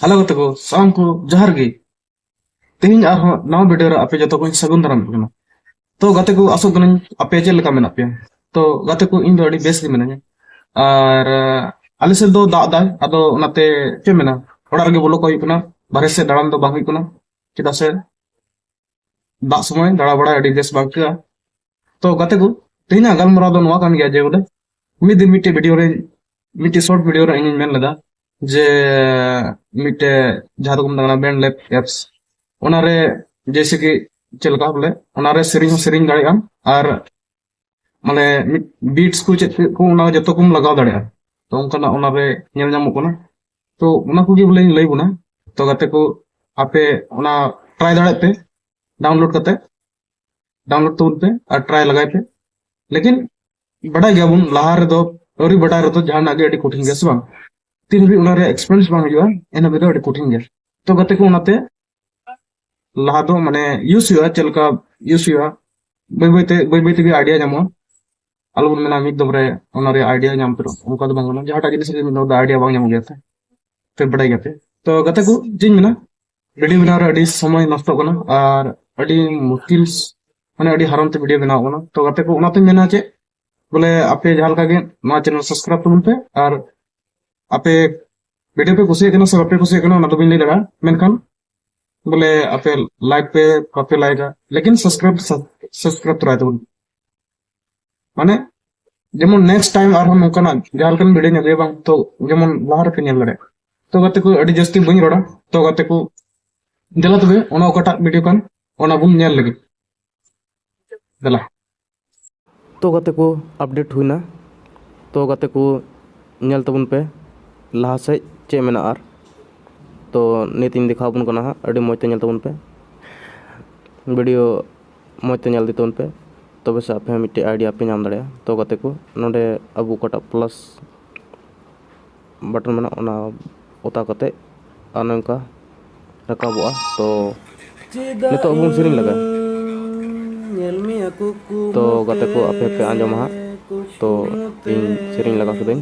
hello ᱜᱟᱛᱮ ᱠᱚ ᱥᱟᱱᱟᱢ ᱠᱚ ᱡᱚᱦᱟᱨ ᱜᱮ ᱛᱮᱦᱮᱧ ᱟᱨᱦᱚᱸ ᱱᱟᱣᱟ ᱵᱷᱤᱰᱤᱭᱳ ᱨᱮ ᱟᱯᱮ ᱡᱚᱛᱚ ᱠᱚᱧ ᱥᱟᱹᱜᱩᱱ ᱫᱟᱨᱟᱢ ᱠᱟᱱᱟ ᱛᱚ ᱜᱟᱛᱮ ᱠᱚ ᱟᱥᱚᱜ ᱠᱟᱹᱱᱟᱹᱧ ᱟᱯᱮ ᱪᱮᱫ ᱞᱮᱠᱟ ᱢᱮᱱᱟᱜ ᱯᱮᱭᱟ ᱛᱚ ᱜᱟᱛᱮ ᱠᱚ ᱤᱧ ᱫᱚ ᱟᱹᱰᱤ ᱵᱮᱥ ᱜᱮ ᱢᱤᱱᱟᱹᱧᱟ ᱟᱨ ᱟᱞᱮ ᱥᱮᱫ ᱫᱚ ᱫᱟᱜ ᱫᱟᱭ ᱟᱫᱚ ᱚᱱᱟᱛᱮ ᱪᱮᱫ ᱢᱮᱱᱟ ᱚᱲᱟᱜ ᱨᱮᱜᱮ ᱵᱚᱞᱚ ᱠᱚ ᱦᱩᱭᱩᱜ ᱠᱟᱱᱟ ᱵᱟᱨᱦᱮ ᱥᱮᱫ ᱫᱟᱬᱟᱱ ᱫᱚ ᱵᱟᱝ ᱦᱩᱭᱩᱜ ᱠᱟᱱᱟ ᱪᱮᱫᱟᱜ ᱥᱮ ᱫᱟᱜ ᱥᱚᱢᱚᱭ ᱫᱟᱬᱟ ᱵᱟᱲᱟᱭ ᱟᱹᱰᱤ ᱵᱮᱥ ᱵᱟᱝ ᱟᱹᱭᱠᱟᱹᱜᱼᱟ ᱛᱚ ᱜᱟᱛᱮ ᱠᱚ ᱛᱮᱦᱮᱧᱟᱜ ᱜᱟᱞᱢᱟᱨᱟᱣ ᱫᱚ ᱱᱚᱣᱟ ᱠᱟᱱ ᱜᱮᱭᱟ ᱡᱮ ᱵᱚᱞᱮ ᱢᱤᱫ ᱫᱤᱱ ᱢᱤᱫᱴᱮᱡ ᱵᱷᱤᱰᱤᱭᱳ ᱨᱮ ᱢᱤᱫᱴᱮᱡ ᱥᱚᱨᱴ ᱵᱷᱤᱰᱤᱭᱳ ᱨᱮ ᱤᱧᱤᱧ ᱢᱮᱱ ᱞᱮᱫᱟ ᱡᱮ ᱢᱤᱫᱴᱮᱡ ᱡᱟᱦᱟᱸ ᱫᱚᱠᱚ ᱢᱮᱛᱟᱜ ᱠᱟᱱᱟ ᱵᱮᱱᱰ ᱞᱮᱯ ᱮᱯᱥ ᱚᱱᱟᱨᱮ ᱡᱮᱭᱥᱮ ᱠᱤ ᱪᱮᱫ ᱞᱮᱠᱟ ᱵᱚᱞᱮ ᱚᱱᱟᱨᱮ ᱥᱮᱨᱮᱧ ᱦᱚᱸ ᱥᱮᱨᱮᱧ ᱫᱟᱲᱮᱭᱟᱜ ᱟᱢ ᱟᱨ ᱢᱟᱱᱮ ᱢᱤᱫ ᱵᱤᱴᱥ ᱠᱚ ᱪᱮᱫ ᱠᱚ ᱚᱱᱟ ᱡᱚᱛᱚ ᱠᱚᱢ ᱞᱟᱜᱟᱣ ᱫᱟᱲᱮᱭᱟᱜᱼᱟ ᱛᱚ ᱚᱱᱠᱟᱱᱟᱜ ᱚᱱᱟᱨᱮ ᱧᱮᱞ ᱧᱟᱢᱚᱜ ᱠᱟᱱᱟ ᱛᱚ ᱚᱱᱟ ᱠᱚᱜᱮ ᱵᱚᱞᱮᱧ ᱞᱟᱹᱭ ᱵᱚᱱᱟ ᱛᱚ ᱜᱟᱛᱮ ᱠᱚ ᱟᱯᱮ ᱚᱱᱟ ᱴᱨᱟᱭ ᱫᱟᱲᱮᱭᱟᱜ ᱯᱮ ᱰᱟᱣᱩᱱᱞᱳᱰ ᱠᱟᱛᱮ ᱰᱟᱣᱩᱱᱞᱳᱰ ᱛᱟᱵᱚᱱ ᱯᱮ ᱟᱨ ᱴᱨᱟᱭ ᱞᱟᱜᱟᱭ ᱯᱮ ᱞᱮᱠᱤᱱ ᱵᱟᱰᱟᱭ ᱜᱮᱭᱟᱵᱚᱱ ᱞᱟᱦᱟ ᱨᱮᱫᱚ ᱟᱹᱣᱨᱤ ᱵᱟᱰᱟᱭ ᱨᱮᱫᱚ ᱡᱟᱦᱟᱱᱟᱜ ᱜᱮ ᱟᱹᱰᱤ ᱠᱚᱴᱷᱤᱱ ᱜᱮᱭᱟ ᱥᱮ ᱵᱟᱝ ᱛᱤᱱ ᱦᱟᱹᱵᱤᱡ ᱚᱱᱟ ᱨᱮᱭᱟᱜ ᱮᱠᱥᱯᱮᱨᱤᱭᱮᱱᱥ ᱵᱟᱝ ᱦᱩᱭᱩᱜᱼᱟ ᱮᱱ ᱦᱟᱹᱵᱤᱡ ᱫᱚ ᱟᱹᱰᱤ ᱠᱚᱴᱷᱤᱱ ᱜᱮᱭᱟ ᱛᱚ ᱜᱟᱛᱮ ᱠᱚ ᱚᱱᱟᱛᱮ ᱞᱟᱦᱟ ᱫᱚ ᱢᱟᱱᱮ ᱤᱭᱩᱥ ᱦᱩᱭᱩᱜᱼᱟ ᱪᱮᱫ ᱞᱮᱠᱟ ᱤᱭᱩᱥ ᱦᱩᱭᱩᱜᱼᱟ ᱵᱟᱹᱭ ᱵᱟᱹᱭᱛᱮ ᱵᱟᱹᱭ ᱵᱟᱹᱭ ᱛᱮᱜᱮ ᱟᱭᱰᱤᱭᱟ ᱧᱟᱢᱚᱜᱼᱟ ᱟᱞᱚ ᱵᱚᱱ ᱢᱮᱱᱟ ᱢᱤᱫ ᱫᱚᱢ ᱨᱮ ᱚᱱᱟ ᱨᱮᱭᱟᱜ ᱟᱭᱰᱤᱭᱟ ᱧᱟᱢ ᱩᱛᱟᱹᱨᱚᱜ ᱚᱱᱠᱟ ᱫᱚ ᱵᱟᱝ ᱠᱟᱱᱟ ᱡᱟᱦᱟᱸᱴᱟᱜ ᱡᱤᱱᱤᱥ ᱨᱮ ᱢᱤᱫ ᱫᱚᱢ ᱫᱚ ᱟᱭᱰᱤᱭᱟ ᱵᱟᱝ ᱧᱟᱢᱚᱜ ᱜᱮᱭᱟ ᱛᱚ ᱯᱮ ᱵᱟᱰᱟᱭ ᱜᱮᱭᱟ ᱯᱮ ᱛᱚ ᱜᱟᱛᱮ ᱠᱚ ᱪᱮᱫ ᱤᱧ ᱢᱮᱱᱟ ᱵᱷᱤᱰᱤᱭᱳ ᱵᱮᱱᱟᱣ ᱨᱮ ᱟᱹᱰᱤ ᱥᱚᱢᱚᱭ ᱱᱚᱥᱴᱚᱜ ᱠᱟᱱᱟ ᱟᱨ ᱟᱹᱰᱤ ᱢᱩᱥᱠᱤᱞ ᱢᱟᱱᱮ ᱟᱹᱰᱤ ᱦᱟᱨᱚᱱ ᱛᱮ ᱵᱷᱤᱰᱤᱭᱳ ᱵᱮᱱᱟᱣ ᱠᱟᱱᱟ ᱛᱚ ᱜᱟᱛᱮ ᱠᱚ ᱚᱱᱟᱛᱮᱧ ᱢᱮᱱᱟ ᱪᱮᱫ ᱵᱚᱞᱮ ᱟᱯᱮ ᱡᱟᱦᱟᱸ ᱞᱮᱠᱟ ᱜᱮ ᱱᱚᱣᱟ ᱪᱮᱱᱮᱞ ᱥᱟᱵᱥᱠᱨᱟᱭᱤᱵ ᱛᱟᱵᱚᱱ ᱯᱮ ᱟᱨ ᱟᱯᱮ ᱵᱷᱤᱰᱤᱭᱳ ᱯᱮ ᱠᱩᱥᱤᱭᱟᱜ ᱠᱟᱱᱟ ᱥᱮ ᱵᱟᱯᱮ ᱠᱩᱥᱤᱭᱟᱜ ᱠᱟᱱᱟ ᱚᱱᱟ ᱫᱚ ᱵᱟᱹᱧ ᱞᱟᱹᱭ ᱫᱟᱲᱮᱭᱟᱜᱼᱟ ᱢᱮᱱᱠᱷᱟᱱ ᱵᱚᱞᱮ ᱟᱯᱮ ᱞᱟᱭᱤᱠ ᱯᱮ ᱵᱟᱯᱮ ᱞᱟᱭᱤᱠᱟ ᱞᱮᱠᱤᱱ ᱥᱟᱵᱥᱠᱨᱟᱭᱤᱵ ᱥᱟᱵᱥᱠᱨᱟᱭᱤᱵ ᱛᱚᱨᱟᱭ ᱛᱟᱵᱚᱱ ᱢᱟᱱᱮ ᱡᱮᱢᱚᱱ ᱱᱮᱠᱥᱴ ᱴᱟᱭᱤᱢ ᱟᱨᱦᱚᱸ ᱱᱚᱝᱠᱟᱱᱟᱜ ᱡᱟᱦᱟᱸ ᱞᱮᱠᱟᱱ ᱵᱷᱤᱰᱤᱭᱳᱧ ᱟᱹᱜᱩᱭᱟ ᱵᱟᱝ ᱛᱚ ᱡᱮᱢᱚᱱ ᱞᱟᱦᱟ ᱨᱮᱯᱮ ᱧᱮᱞ ᱫᱟᱲᱮᱭᱟᱜ ᱛᱚ ᱜᱟᱛᱮ ᱠᱚ ᱟᱹᱰᱤ ᱡᱟᱹᱥᱛᱤ ᱵᱟᱹᱧ ᱨᱚᱲᱟ ᱛᱚ ᱜᱟᱛᱮ ᱠᱚ ᱫᱮᱞᱟ ᱛᱚᱵᱮ ᱚᱱᱟ ᱚᱠᱟᱴᱟᱜ ᱵᱷᱤᱰᱤᱭᱳ ᱠᱟᱱ ᱚᱱᱟ ᱵᱚᱱ ᱧᱮᱞ ᱞᱟᱹᱜᱤᱫ ᱫᱮᱞᱟ ᱛᱚ ᱜᱟᱛᱮ ᱠᱚ ᱟᱯᱰᱮᱴ ᱦᱩᱭᱱᱟ ᱛᱚ ᱜᱟᱛᱮ ᱠᱚ ᱧᱮᱞ ᱛᱟᱵᱚᱱ ᱯᱮ ᱞᱟᱦᱟ ᱥᱮᱫ ᱪᱮᱫ ᱢᱮᱱᱟᱜᱼᱟ ᱟᱨ ᱛᱚ ᱱᱤᱛᱤᱧ ᱫᱮᱠᱷᱟᱣ ᱟᱵᱚᱱ ᱠᱟᱱᱟ ᱦᱟᱸᱜ ᱟᱹᱰᱤ ᱢᱚᱡᱽ ᱛᱮ ᱧᱮᱞ ᱛᱟᱵᱚᱱ ᱯᱮ ᱵᱷᱤᱰᱤᱭᱳ ᱢᱚᱡᱽ ᱛᱮ ᱧᱮᱞ ᱤᱫᱤ ᱛᱟᱵᱚᱱ ᱯᱮ ᱛᱚᱵᱮ ᱥᱮ ᱟᱯᱮ ᱦᱚᱸ ᱢᱤᱫᱴᱮᱡ ᱟᱭᱰᱤᱭᱟ ᱯᱮ ᱧᱟᱢ ᱫᱟᱲᱮᱭᱟᱜᱼᱟ ᱛᱚ ᱜᱟᱛᱮ ᱠᱚ ᱱᱚᱰᱮ ᱟᱵᱚ ᱚᱠᱟᱴᱟᱜ ᱯᱞᱟᱥ ᱵᱟᱴᱚᱱ ᱢᱮᱱᱟᱜᱼᱟ ᱚᱱᱟ ᱚᱛᱟ ᱠᱟᱛᱮ ᱟᱨ ᱱᱚᱝᱠᱟ ᱨᱟᱠᱟᱵᱚᱜᱼᱟ ᱛᱚ ᱱᱤᱛᱚᱜ ᱵᱚᱱ ᱥᱮᱨᱮᱧ ᱞᱟᱜᱟ ᱛᱚ ᱜᱟᱛᱮ ᱠᱚ ᱟᱯᱮ ᱯᱮ ᱟᱸᱡᱚᱢᱟ ᱦᱟᱸᱜ ᱛᱚ ᱤᱧ ᱥᱮᱨᱮᱧ ᱞᱟᱜᱟ ᱠᱤᱫᱟᱹᱧ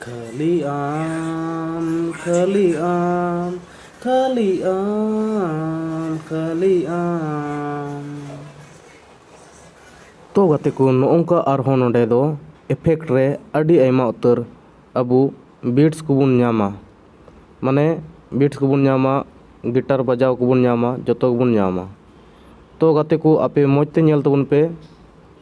ᱠᱷᱟᱹᱞᱤ ᱟᱢ ᱠᱷᱟᱹᱞᱤ ᱟᱢ ᱠᱷᱟᱹᱞᱤ ᱟᱢ ᱠᱷᱟᱹᱞᱤ ᱟᱢ ᱛᱚ ᱜᱟᱛᱮ ᱠᱚ ᱱᱚᱜᱼᱚᱝᱠᱟ ᱟᱨᱦᱚᱸ ᱱᱚᱰᱮ ᱫᱚ ᱮᱯᱷᱮᱠᱴ ᱨᱮ ᱟᱹᱰᱤ ᱟᱭᱢᱟ ᱩᱛᱟᱹᱨ ᱟᱵᱚ ᱵᱤᱴᱥ ᱠᱚᱵᱚᱱ ᱧᱟᱢᱟ ᱢᱟᱱᱮ ᱵᱤᱴᱥ ᱠᱚᱵᱚᱱ ᱧᱟᱢᱟ ᱜᱤᱴᱟᱨ ᱵᱟᱡᱟᱣ ᱠᱚᱵᱚᱱ ᱧᱟᱢᱟ ᱡᱚᱛᱚ ᱜᱮᱵᱚᱱ ᱧᱟᱢᱟ ᱛᱚ ᱜᱟᱛᱮ ᱠᱚ ᱟᱯᱮ ᱢᱚᱡᱽ ᱛᱮ ᱧᱮᱞ ᱛᱟᱵᱚᱱ ᱯᱮ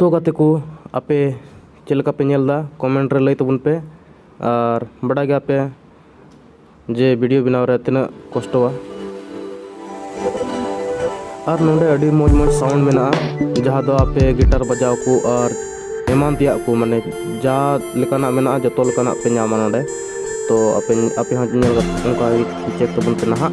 ᱛᱚ ᱜᱟᱛᱮ ᱠᱚ ᱟᱯᱮ ᱪᱮᱫ ᱞᱮᱠᱟ ᱯᱮ ᱧᱮᱞ ᱮᱫᱟ ᱠᱚᱢᱮᱱᱴ ᱨᱮ ᱞᱟᱹᱭ ᱛᱟᱵᱚᱱ ᱯᱮ ᱟᱨ ᱵᱟᱰᱟᱭ ᱜᱮᱭᱟ ᱯᱮ ᱡᱮ ᱵᱷᱤᱰᱤᱭᱳ ᱵᱮᱱᱟᱣ ᱨᱮ ᱛᱤᱱᱟᱹᱜ ᱠᱚᱥᱴᱚᱣᱟ ᱟᱨ ᱱᱚᱰᱮ ᱟᱹᱰᱤ ᱢᱚᱡᱽ ᱢᱚᱡᱽ ᱥᱟᱣᱩᱱᱰ ᱢᱮᱱᱟᱜᱼᱟ ᱡᱟᱦᱟᱸ ᱫᱚ ᱟᱯᱮ ᱜᱤᱴᱟᱨ ᱵᱟᱡᱟᱣ ᱠᱚ ᱟᱨ ᱮᱢᱟᱱ ᱛᱮᱭᱟᱜ ᱠᱚ ᱢᱟᱱᱮ ᱡᱟ ᱞᱮᱠᱟᱱᱟᱜ ᱢᱮᱱᱟᱜᱼᱟ ᱡᱚᱛᱚ ᱞᱮᱠᱟᱱᱟᱜ ᱯᱮ ᱧᱟᱢᱟ ᱱᱚᱰᱮ ᱛᱚ ᱟᱯᱮ ᱟᱯᱮ ᱦᱚᱸ ᱧᱮᱞ ᱚᱱᱠᱟ ᱪᱮᱠ ᱛᱟᱵᱚᱱ ᱯᱮ ᱱᱟᱦᱟᱜ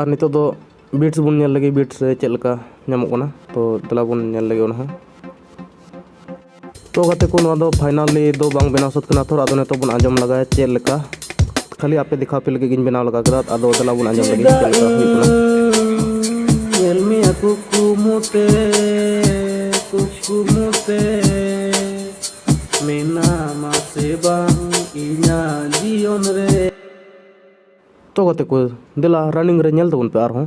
ᱟᱨ ᱱᱤᱛᱚᱜ ᱫᱚ ᱵᱤᱴᱥ ᱵᱚᱱ ᱧᱮᱞ ᱞᱮᱜᱮ ᱵᱤᱴᱥ ᱨᱮ ᱪᱮᱫ ᱞᱮᱠᱟ ᱧᱟᱢᱚᱜ ᱠᱟᱱᱟ ᱛᱚ ᱫᱮᱞᱟ ᱵᱚᱱ ᱧᱮᱞ ᱞᱮᱜᱮ ᱚᱱᱟ ᱦᱚᱸ ᱛᱚ ᱜᱟᱛᱮ ᱠᱚ ᱱᱚᱣᱟ ᱫᱚ ᱯᱷᱟᱭᱱᱟᱞᱤ ᱫᱚ ᱵᱟᱝ ᱵᱮᱱᱟᱣ ᱥᱟᱹᱛ ᱠᱟᱱᱟ ᱛᱷᱚᱨ ᱟᱫᱚ ᱱᱤᱛᱚᱜ ᱵᱚᱱ ᱟᱸᱡᱚᱢ ᱞᱟᱜᱟᱭᱟ ᱪᱮᱫ ᱞᱮᱠᱟ ᱠᱷᱟᱹᱞᱤ ᱟᱯᱮ ᱫᱮᱠᱷᱟᱣ ᱯᱮ ᱞᱟᱹᱜᱤᱫ ᱜᱤᱧ ᱵᱮᱱᱟᱣ ᱞᱟᱜᱟ ᱠᱮᱫᱟ ᱟᱫᱚ ᱫᱮᱞᱟ ᱵᱚᱱ ᱟᱸᱡᱚᱢ ᱞᱟᱹᱜᱤᱫ ᱪᱮᱫ ᱞᱮᱠᱟ ᱦᱩᱭᱩᱜ ᱠᱟᱱᱟ ᱧᱮᱞ ᱢᱮᱭᱟ ᱠᱩᱠᱢᱩᱛᱮ ᱠᱩᱠᱢᱩᱛᱮ ᱢᱮᱱᱟᱢᱟ ᱥᱮ ᱵᱟᱝ ᱤᱧᱟᱹᱜ ᱡᱤᱭᱚᱱ ᱨᱮ ᱛᱚ ᱜᱟᱛᱮ ᱠᱚ ᱫᱮᱞᱟ ᱨᱟᱱᱤᱝ ᱨᱮ ᱧᱮᱞ ᱛᱟᱵᱚᱱ ᱯᱮ ᱟᱨᱦᱚᱸ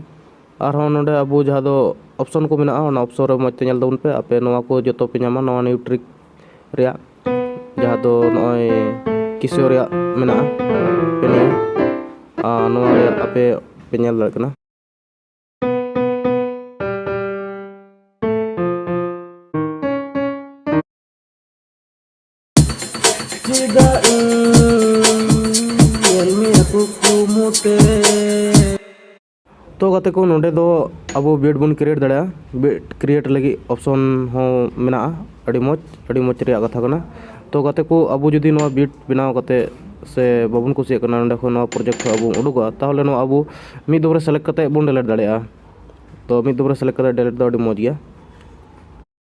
ᱟᱨᱦᱚᱸ ᱱᱚᱰᱮ ᱟᱵᱚ ᱡᱟᱦᱟᱸ ᱫᱚ ᱚᱯᱷᱥᱮᱱ ᱠᱚ ᱢᱮᱱᱟᱜᱼᱟ ᱚᱱᱟ ᱚᱯᱷᱥᱮᱱ ᱨᱮ ᱢᱚᱡᱽ ᱛᱮ ᱧᱮᱞ ᱛᱟᱵᱚᱱ ᱯᱮ ᱟᱯᱮ ᱱᱚᱣᱟ ᱠᱚ ᱡᱚᱛᱚ ᱯᱮ ᱧᱟᱢᱟ ᱱᱚᱣᱟ ᱱᱤᱭᱩᱴᱨᱤᱠ ᱨᱮᱭᱟᱜ ᱡᱟᱦᱟᱸ ᱫᱚ ᱱᱚᱜᱼᱚᱭ ᱠᱤᱥᱳ ᱨᱮᱭᱟᱜ ᱢᱮᱱᱟᱜᱼᱟ ᱟᱨ ᱱᱚᱣᱟ ᱨᱮ ᱟᱯᱮ ᱯᱮ ᱧᱮᱞ ᱫᱟᱲᱮᱭᱟᱜ ᱠᱟᱱᱟ Tiga ᱛᱚ ᱜᱟᱛᱮ ᱠᱚ ᱱᱚᱰᱮ ᱫᱚ ᱟᱵᱚ ᱵᱮᱰ ᱵᱚᱱ ᱠᱨᱤᱭᱮᱴ ᱫᱟᱲᱮᱭᱟᱜᱼᱟ ᱵᱮᱰ ᱠᱨᱤᱭᱮᱴ ᱞᱟᱹᱜᱤᱫ ᱚᱯᱥᱚᱱ ᱦᱚᱸ ᱢᱮᱱᱟᱜᱼᱟ ᱟᱹᱰᱤ ᱢᱚᱡᱽ ᱟᱹᱰᱤ ᱢᱚᱡᱽ ᱨᱮᱭᱟᱜ ᱠᱟᱛᱷᱟ ᱠᱟᱱᱟ ᱛᱚ ᱜᱟᱛᱮ ᱠᱚ ᱟᱵᱚ ᱡᱩᱫᱤ ᱱᱚᱣᱟ ᱵᱮᱰ ᱵᱮᱱᱟᱣ ᱠᱟᱛᱮ ᱥᱮ ᱵᱟᱵᱚᱱ ᱠᱩᱥᱤᱭᱟᱜ ᱠᱟᱱᱟ ᱱᱚᱰᱮ ᱠᱷᱚᱱ ᱱᱚᱣᱟ ᱯᱨᱚᱡᱮᱠᱴ ᱠᱷᱚᱱ ᱟᱵᱚ ᱩᱰᱩᱠᱚᱜᱼᱟ ᱛᱟᱦᱚᱞᱮ ᱱᱚᱣᱟ ᱟᱵᱚ ᱢᱤᱫ ᱫᱚᱢ ᱨᱮ ᱥᱮᱞᱮᱠᱴ ᱠᱟᱛᱮ ᱵᱚᱱ ᱰᱮᱞᱮᱴ ᱫᱟᱲᱮᱭᱟᱜᱼᱟ ᱛᱚ ᱢᱤᱫ ᱫᱚᱢ ᱨᱮ ᱥᱮᱞᱮᱠᱴ ᱠᱟᱛᱮ ᱰᱮᱞᱮᱴ ᱫᱚ ᱟᱹᱰᱤ ᱢᱚᱡᱽ ᱜᱮᱭᱟ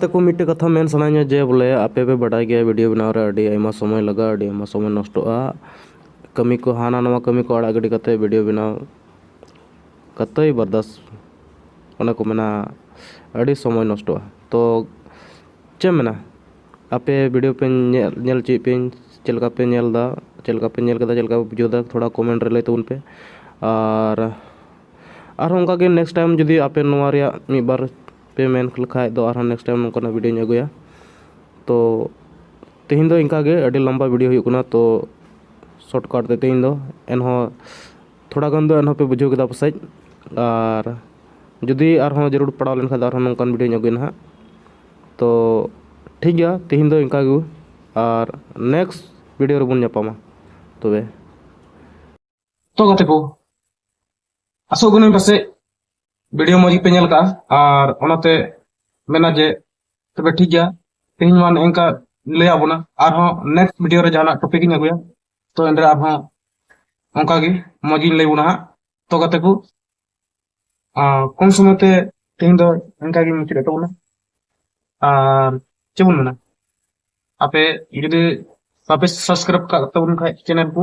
ᱛᱟᱠᱚ ᱢᱤᱫᱴᱮᱡ ᱠᱟᱛᱷᱟ ᱢᱮᱱ ᱥᱟᱱᱟᱧᱟ ᱡᱮ ᱵᱚᱞᱮ ᱟᱯᱮ ᱯᱮ ᱵᱟᱰᱟᱭ ᱜᱮᱭᱟ ᱵᱷᱤᱰᱤᱭᱳ ᱵᱮᱱᱟᱣ ᱨᱮ ᱟᱹᱰᱤ ᱟᱭᱢᱟ ᱥᱚᱢᱚᱭ ᱞᱟᱜᱟᱜᱼᱟ ᱟᱹᱰᱤ ᱟᱭᱢᱟ ᱥᱚᱢᱚᱭ ᱱᱚᱥᱴᱚᱜᱼᱟ ᱠᱟᱹᱢᱤ ᱠᱚ ᱦᱟᱱᱟ ᱱᱟᱣᱟ ᱠᱟᱹᱢᱤ ᱠᱚ ᱟᱲᱟᱜ ᱜᱤᱰᱤ ᱠᱟᱛᱮᱫ ᱵᱷᱤᱰᱤᱭᱳ ᱵᱮᱱᱟᱣ ᱠᱟᱛᱮᱭ ᱵᱟᱨᱫᱟᱥ ᱚᱱᱟ ᱠᱚ ᱢᱮᱱᱟ ᱟᱹᱰᱤ ᱥᱚᱢᱚᱭ ᱱᱚᱥᱴᱚᱜᱼᱟ ᱛᱚ ᱪᱮᱫ ᱮᱢ ᱢᱮᱱᱟ ᱟᱯᱮ ᱵᱷᱤᱰᱤᱭᱳ ᱯᱮ ᱧᱮᱞ ᱧᱮᱞ ᱦᱚᱪᱚᱭᱮᱫ ᱯᱮᱭᱟᱹᱧ ᱪᱮᱫ ᱞᱮᱠᱟ ᱯᱮ ᱧᱮᱞᱫᱟ ᱪᱮᱫ ᱞᱮᱠᱟ ᱯᱮ ᱧᱮᱞ ᱠᱮᱫᱟ ᱪᱮᱫ ᱞᱮᱠᱟ ᱯᱮ ᱵᱩᱡᱷᱟᱹᱣᱫᱟ ᱛᱷᱚᱲᱟ ᱠᱚᱢᱮᱱᱴ ᱨᱮ ᱞᱟᱹᱭ ᱛᱟᱵᱚᱱ ᱯᱮ ᱟᱨ ᱟᱨᱦᱚᱸ ᱚᱱᱠᱟ ᱜᱮ ᱱᱮᱠᱥᱴ ᱴᱟᱭᱤᱢ ᱡᱩᱫᱤ ᱟᱯᱮ ᱱᱚᱣᱟ ᱨᱮᱭᱟᱜ ᱢᱤᱫ ᱵᱟᱨ ᱯᱮ ᱢᱮᱱ ᱞᱮᱠᱷᱟᱡ ᱫᱚ ᱟᱨᱦᱚᱸ ᱱᱮᱠᱥᱴ ᱴᱟᱭᱤᱢ ᱱᱚᱝᱠᱟᱱᱟᱜ ᱵᱷᱤᱰᱭᱳᱧ ᱟᱹᱜᱩᱭᱟ ᱛᱳ ᱛᱮᱦᱮᱧ ᱫᱚ ᱤᱱᱠᱟ ᱜᱮ ᱟᱹᱰᱤ ᱞᱚᱢᱵᱟ ᱵᱷᱤᱰᱭᱳ ᱦᱩᱭᱩᱜ ᱠᱟᱱᱟ ᱛᱳ ᱥᱚᱨᱴ ᱠᱟᱨᱴ ᱛᱮ ᱛᱮᱦᱮᱧ ᱫᱚ ᱮᱱᱦᱚᱸ ᱛᱷᱚᱲᱟ ᱜᱟᱱ ᱫᱚ ᱮᱱᱦᱚᱸ ᱯᱮ ᱵᱩᱡᱷᱟᱹᱣ ᱠᱮᱫᱟ ᱯᱟᱥᱮᱡ ᱟᱨ ᱡᱩᱫᱤ ᱟᱨᱦᱚᱸ ᱡᱟᱹᱨᱩᱲ ᱯᱟᱲᱟᱣ ᱞᱮᱱᱠᱷᱟᱡ ᱫᱚ ᱟᱨᱦᱚᱸ ᱱᱚᱝᱠᱟᱱ ᱵᱷᱤᱰᱭᱳᱧ ᱟᱹᱜᱩᱭᱟ ᱱᱟᱦᱟᱜ ᱛᱳ ᱴᱷᱤᱠ ᱜᱮᱭᱟ ᱛᱮᱦᱮᱧ ᱫᱚ ᱤᱱᱠᱟ ᱜᱮ ᱟᱨ ᱱᱮᱠᱥᱴ ᱵᱷᱤᱰᱭᱳ ᱨᱮᱵᱚᱱ ᱧᱟᱯᱟᱢᱟ ᱛᱚᱵᱮ ᱛᱚ ᱜᱟᱛᱮ ᱠᱚ ᱟᱥᱚᱜ ᱠᱟᱹᱱᱟᱹᱧ ᱯᱟᱥᱮᱡ ᱵᱷᱤᱰᱤᱭᱳ ᱢᱚᱡᱽ ᱜᱮᱯᱮ ᱧᱮᱞ ᱠᱟᱜᱼᱟ ᱟᱨ ᱚᱱᱟᱛᱮ ᱢᱮᱱᱟ ᱡᱮ ᱛᱚᱵᱮ ᱴᱷᱤᱠ ᱜᱮᱭᱟ ᱛᱮᱦᱮᱧ ᱢᱟ ᱱᱮᱝᱠᱟ ᱞᱟᱹᱭᱟᱜ ᱵᱚᱱᱟ ᱟᱨᱦᱚᱸ ᱱᱮᱠᱥᱴ ᱵᱷᱤᱰᱤᱭᱳ ᱨᱮ ᱡᱟᱦᱟᱱᱟᱜ ᱴᱚᱯᱤᱠ ᱤᱧ ᱟᱹᱜᱩᱭᱟ ᱛᱚ ᱮᱱᱨᱮ ᱟᱨᱦᱚᱸ ᱚᱱᱠᱟ ᱜᱮ ᱢᱚᱡᱽ ᱤᱧ ᱞᱟᱹᱭ ᱵᱚᱱᱟ ᱦᱟᱸᱜ ᱛᱚ ᱜᱟᱛᱮ ᱠᱚ ᱠᱚᱢ ᱥᱚᱢᱚᱭ ᱛᱮ ᱛᱮᱦᱮᱧ ᱫᱚ ᱮᱱᱠᱟ ᱜᱮ ᱢᱩᱪᱟᱹᱫ ᱮᱫ ᱛᱟᱵᱚᱱᱟ ᱟᱨ ᱪᱮᱫ ᱵᱚᱱ ᱢᱮᱱᱟ ᱟᱯᱮ ᱡᱩᱫᱤ ᱵᱟᱯᱮ ᱥᱟᱵᱥᱠᱨᱟᱭᱤᱵ ᱠᱟᱜ ᱛᱟᱵᱚᱱ ᱠᱷᱟᱡ ᱪᱮᱱᱮᱞ ᱠᱚ